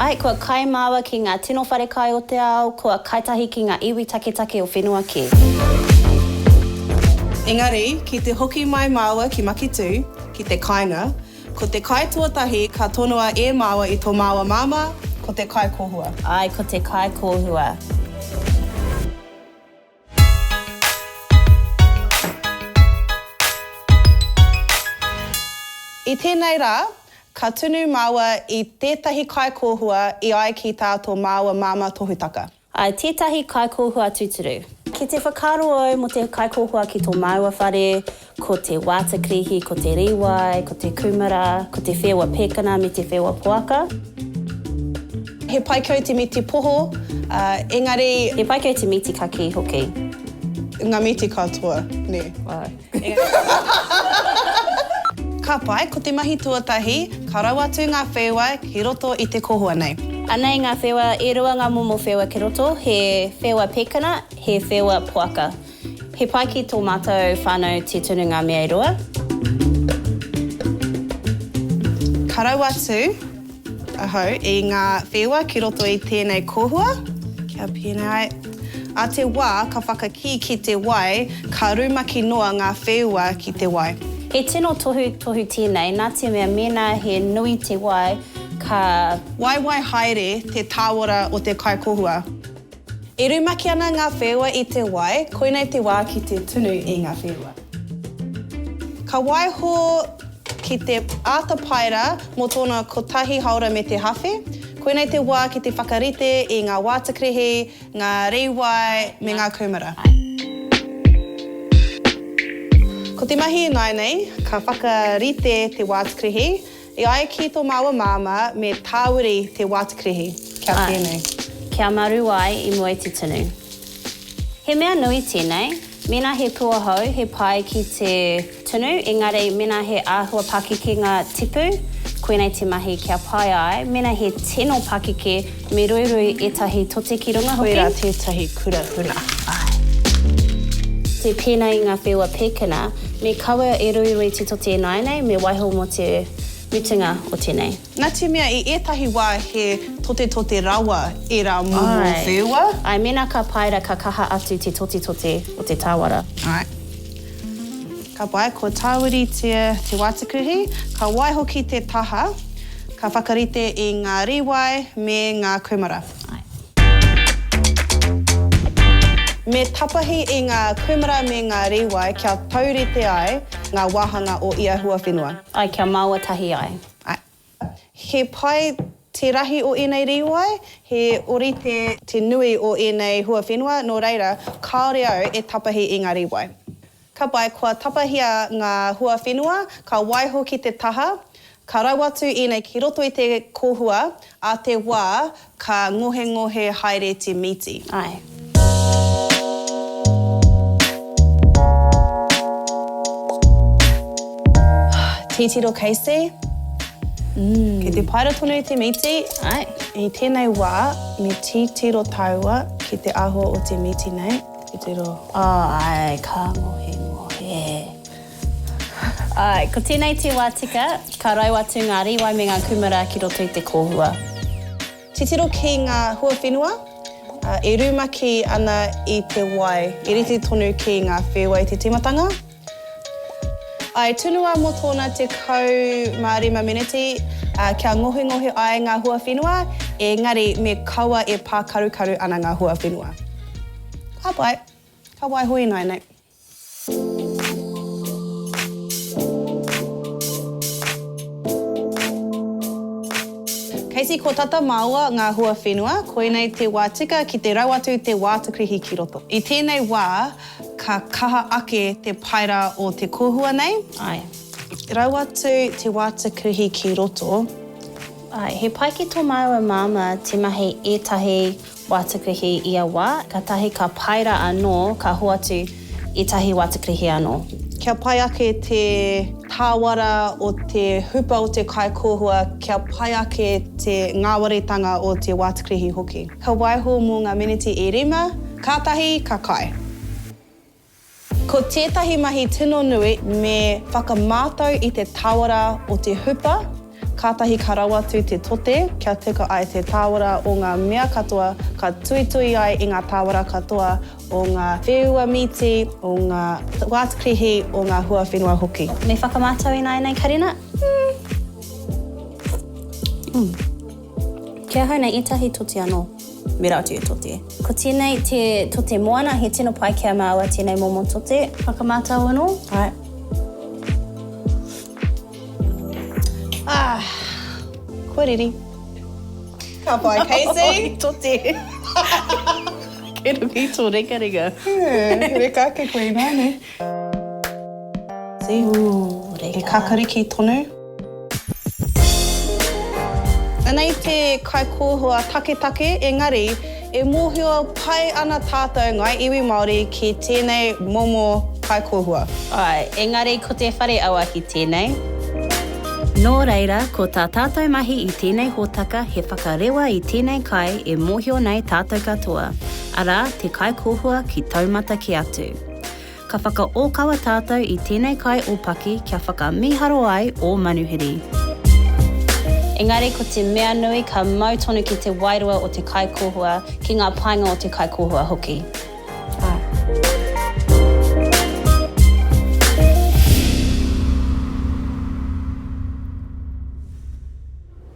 Ai, kua kai māua ki ngā tino wharekai o te ao, kua kai tahi ki ngā iwi taketake o whenua kē. Engari, ki te hoki mai māua ki Maketū, ki te kāinga, ko te kai tuatahi ka tonoa e māua i tō māua māmā, ko te kai kōhua. Ai, ko te kai kōhua. I tēnei rā, ka tunu māua i tētahi kaikōhua i ai ki tā tō māua māmā tohutaka. I tētahi kaikōhua tūturu. Ki te whakaaro au mō te kaikōhua ki tō māua whare. Ko te Waata Krihi, ko te Riwai, ko te Kumara, ko te Whewa Pekana me te Whewa Poaka. He pai kau te mīti poho, engari. He pai kau te mīti kakī hoki. Ngā mīti katoa, nē. Ka pai, ko te mahi tuatahi, ka rau atu ngā whewa ki roto i te kohoa nei. Anei ngā whewa, e rua ngā momo whewa ki roto, he Whewa Pekana, he Whewa Poaka. He pai ki tō mātou whānau te tunu ngā mea e rua. Ka raua atu ahau i ngā wheua ki roto i tēnei kōhua, kia pēnei ai. A te wā ka whakakī ki te wai, ka rumaki noa ngā wheua ki te wai. He tino tohutohu tēnei, nā te mea mēnā he nui te wai, ka. Waiwai haere te tāora o te kaikōhua. E rumaki ana ngā wheua i te wai, koinei te wā ki te tunu i ngā wheua. Ka waiho ki te āta paera mō tōna kotahi haora me te hawhe, koinei te wā ki te whakarite i ngā wātakrehe, ngā rīwai me ngā kūmara. Ko te mahi ināianei, ka whakarite te wātakrehe, E ai ki tō māua māmā, me tāwiri te wātikirihi. Kia pēnei. Āe. Kia maru ai i mua i te tunu. He mea nui tēnei, mēnā he pūohou he pai ki te tunu, engari mēnā he āhua pakekenga tipu, koinei te mahi kia pai ai, mēnā he tino pakeke, Me ruirui etahi tote ki runga hoki. Koira tetahi kura huna. Ae. Te pena i nga wheua pekena, me kaua e ruirui te tote inaenei me waiho mo te mutunga o tenei. Natemea i etahi wa he totetote rawa era momo wheua. Ae, mena ka paera ka kaha atu te totetote o te tawara. Ae. Ka pai, ko Tāwiritia Te Wātikuhi, ka waiho ki te taha, ka whakarite i ngā rīwai me ngā kūmara. Me tapahi i ngā kūmara me ngā rīwai kia taurite ai ngā wāhanga o ia huawhenua. Ai, kia māua tahi ai. Ai. He pai te rahi o ēnei rīwai, he ōrite te nui o ēnei huawhenua, nō reira, kāore au e tapahi i ngā rīwai. Ka pai, kua tapahia ngā huawhenua, ka waiho ki te taha, ka rau atu ēnei ki roto i te kōhua, ā te wā, Ka ngohengohe haere te mīti. Ae. Titiro Casey. Mm. Kei te paera tonu te mīti. Ae. I tēnei wā, me titiro tāua ki te āhua o te mīti nei. Titiro. Oh, ae, ka ngohengohe. Āe, ko tēnei te wā tika, ka rau atu ngā rīwai me ngā kūmara ki roto i te kōhua. Titiro ki ngā huawhenua e rumaki ana i te wai, i rite tonu ki ngā whēwai te tīmatanga. I tunua mō tōna 15 meneti kia ngohingohi ai ngā huawhenua, engari me kaua e pākarukaru ana ngā huawhenua. Ka pai, ka waiho ināianei. Casey, ko tata māua ngā huawhenua, koinei te wā tika ki te rau atu te wātakrihi ki roto. I tēnei wā, ka kaha ake te paera o te kōhua nei. Āe. Rau atu te wātakrihi ki roto. Āe, he pai ki tō māua māmā te mahi ētahi. Watakrihi ia wa, katahi ka paera ano ka hoatu i tahi watakrihi ano. Kia pai ake te tāwara o te hupa o te kaikōhua, kia pai ake te ngāwaritanga o te watakrihi hoki. Ka waiho mō ngā miniti e rima, kātahi ka kai. Ko tētahi mahi tino nui me whakamātau i te tāwara o te hupa, kātahi ka rawatu te tote kia teka ai te tāwara o ngā mea katoa ka tuitui ai i ngā tāwara katoa o ngā wheua mīti, o ngā wātukrihi, o ngā huawhenua hoki. Me whakamātau ināianei karena? Umm. Umm. Ki ahau nei ētahi tote anō. Me rā atu e Tote. Ko tēnei te Tote Moana, he tino pai kia māua tēnei momo tote. Whakamātau anō. Right. Ah, kua riri. Ka pai, Casey. Oi, Tote. Kei runga i tō ringaringa. He reka ake koe i nāne. He kakariki tonu. Anei te kaikōhua taketake engari e mōhio pai ana tātou ngāi iwi Māori ki tēnei momo kaikōhua. Āe, engari ko te whare auaki tēnei. Nō reira, ko tā tātou mahi i tēnei hōtaka he whakarewa i tēnei kai e mōhio nei tātou katoa, arā, te kaikōhua ki taumata kē atu. Ka whakaōkawa tātou i tēnei kai o Paki kia whakamīharo ai ō manuhiri. Engari ko te mea nui ka mau tonu ki te wairua o te kaikōhua, ki ngā painga o te kaikōhua hoki.